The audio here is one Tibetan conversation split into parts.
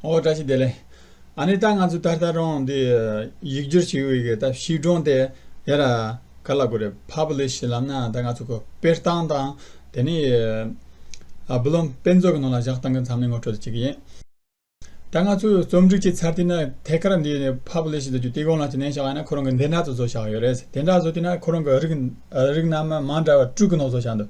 ཨོ་བཀྲ་ཤིས་བདེ་ལེགས། ཨ་ནི་ད་ང་ཚོ་ད་ལྟ་རང་འདི་ཡིག་སྒྱུར་བྱེད་ཡུལ་གྱི་ད་ཤིས་སྒྲོན་དེ་ཡ་ར་ག་ལ་དགོས་རེད Publish ལབ་ན་ད་ང་ཚོ་གོ་པེར་བཏང་དང་དེ་ནས་བུ་ལོན་དཔེ་མཛོད་ཀྱི་ནང་ལ་བཞག་བཏང་གི་མཚམས་ནས་ངོ་སྤྲོད་དུ་བྱེད་ཀྱི་ཡིན། ད་ང་ཚོའི་རྩོམ་སྒྲིག་བྱས་ཚར་དུས་ན་ཐད་ཀར་འདི་ནས Publish དུ་རྒྱུ་དེ་གང་ལ་ཅི་ནན་བཞག་ཡ་ན་ཁོ་རང་གི་འདི་འདྲ་དུ་བཟོ་བཞག་ཡོད་རེད་དེ་འདྲ་བཟོ་དུས་ན་ཁོ་རང་གི་རིགས་རིགས་རྣམས་མང་འདྲ་བ་དྲུག་གི་ནང་བཟོ་བཞག་འདུག།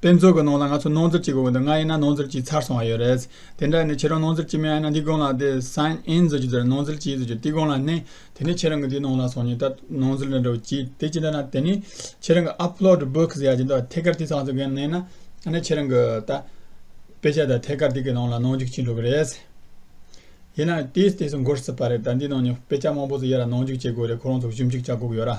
དཔེ་མཛོད་ཀྱི་ནང་ལ་ང་ཚོ་ནོར་འཛོལ་གྱི་དགོས་མཁོ་འདུག་ང་ཡིན་ན་ནོར་འཛོལ་གྱིས་ཚར་སོང་བ་ཡོད་རེད། དེ་འདྲ་ཡིན་ན་ཁྱེད་རང་ནོར་འཛོལ་གྱིས་མི་ཡིན་ན་འདི་དགོངས་ལགས་དེ་སང་ཨེན་བཟོ་གྱིས་བཟོ་རེད་ནོར་འཛོལ་གྱིས་བཟོ་རྒྱུ་དེ་དགོངས་ལགས་ནི། དེ་ནི་ཁྱེད་རང་གི་དེའི་ནང་ལ་སོང་ཉིན་ད་ནོར་འཛོལ་འདྲ་འདྲ་བོ་གྱིས་དེ་ཅི་འདྲ་ན་དེ་ནི། ཁྱེད་རང་གི Upload Books ཡ་ཅི་འདུག་ཐད་ཀར་དེ་ཚང་བཟོ་མཁན་མེད་ན། ནི་ཁྱེད་རང་གི་ད། དཔེ་ཆ་དང་ཐད་ཀར་དེ་གི་ནང་ལ་ནོར་འཇུག་བྱེད་འགྲོ་གི་རེད། ཡིན་ན་དེ་དེ་ཚོ་འགོར་སྲིད་པ་རེད་ད་འདིའི་ནང་ནི་དཔེ་ཆ་མང་པོ་ཚོ་ཡོད་ལ་ནོར་འཇུག་བྱེད་དགོས་རེད་ཁོ་རང་ཚོ་ཞིབ་འཇུག་བྱ་དགོས་ཀྱི་ཡོད་ར།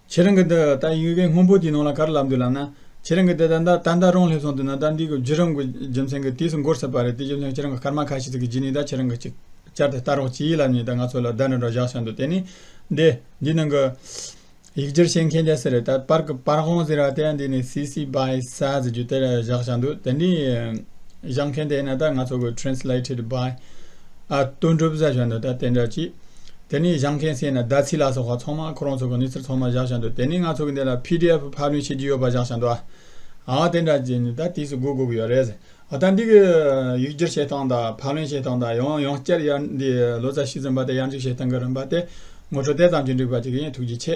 ཁྱེད་རང་གི་འདི་ལྟ་ཡུལ་བའི་སྔོན་པོ་དེའི་ནང་ལ་ག་རེ་ལབ་འདུག་ལབ་ན། ཁྱེད་རང་གི་འདི་ལྟ་ད་ལྟ་རང་སླེབས་སོང་འདུག་ན་ད་འདི་གི་རྒྱུད་རང་གི་རྒྱུ་མཚན་གྱི་དུས་སུ་འགོར་སྲིད་པ་རེད་དེ་རྒྱུ་མཚན་ཁྱེད་རང་གི་སྐར་མ་ཁ་ཤས་ཚིག་གི་རྒྱུད་ནི་ད་ཁྱེད་རང་གི་ཅིག་ཅར་དེ་ལྟ་རོགས་གྱིས་ལབ་ཉིན་ད་ང་ཚོ་ལ་བརྡ་འདྲ་འདྲ་བཞག་སོན་འདུག་དེ་ནི། འདི་འདིའི་ནང་གི། ཡིག་སྒྱུར་བྱེད་མཁན་རྒྱ་སེ་རེད་ད་པར་གི་པར་ཧོང་ཟེར་བ་དེ་འདི་ནི་སི་སི་བྷའི་ས་ཟེར་རྒྱུ་དེར་བཞག་བཞག་འདུག་དེ་འདྲའི་བཞག་མཁན་དེ་ཡིན་ན་ད་ང་ཚོ་གི Translated by། ཨ་སྟོན་གྲུབ་བཟའ་བཞག་འདུག་ད་དེ་འདྲ་ཅི། དེ་ནས་བཞག་མཁན་བསད་ན་ཟླ་ཚེས་ལགས་སོགས་ཧ་ཚང་མ་ཁོ་རང་ཚོ་གི་གནས་ཚུལ་ཚང་མ་བཞག་བཞག་འདུག་དེ་ནས་ང་ཚོ་གི་འདི་ལ PDF ཕབ་ལེན་བྱེད་ཀྱི་ཡོད་པ་བཞག་བཞག་འདུག་ཨ་ཨ་དེ་འདྲ་ཅི་ད་དུས་སུ་སྒུག་སྒུག་ཡོད་རེད་ཟེར་ཨ་ད་འདི་གི་ཡིག་སྒྱུར་བྱེད་སྟངས་དང་ཕབ་ལེན་བྱེད་སྟངས་དང་ཡང་ཡང་བསྐྱར་ཡར་འདི་ལོ་ཙཱ་བཞི་ཚན་པ་དེ་ཡར་འཇུག་བྱེད་སྟངས་གི་རིམ་པ་དེ་ངོ་སྤྲོད་དེ་ཙམ་གྱིས་འགྲིག་པ་ཅིག་ཡིན་ཐུགས་རྗེ་ཆེ།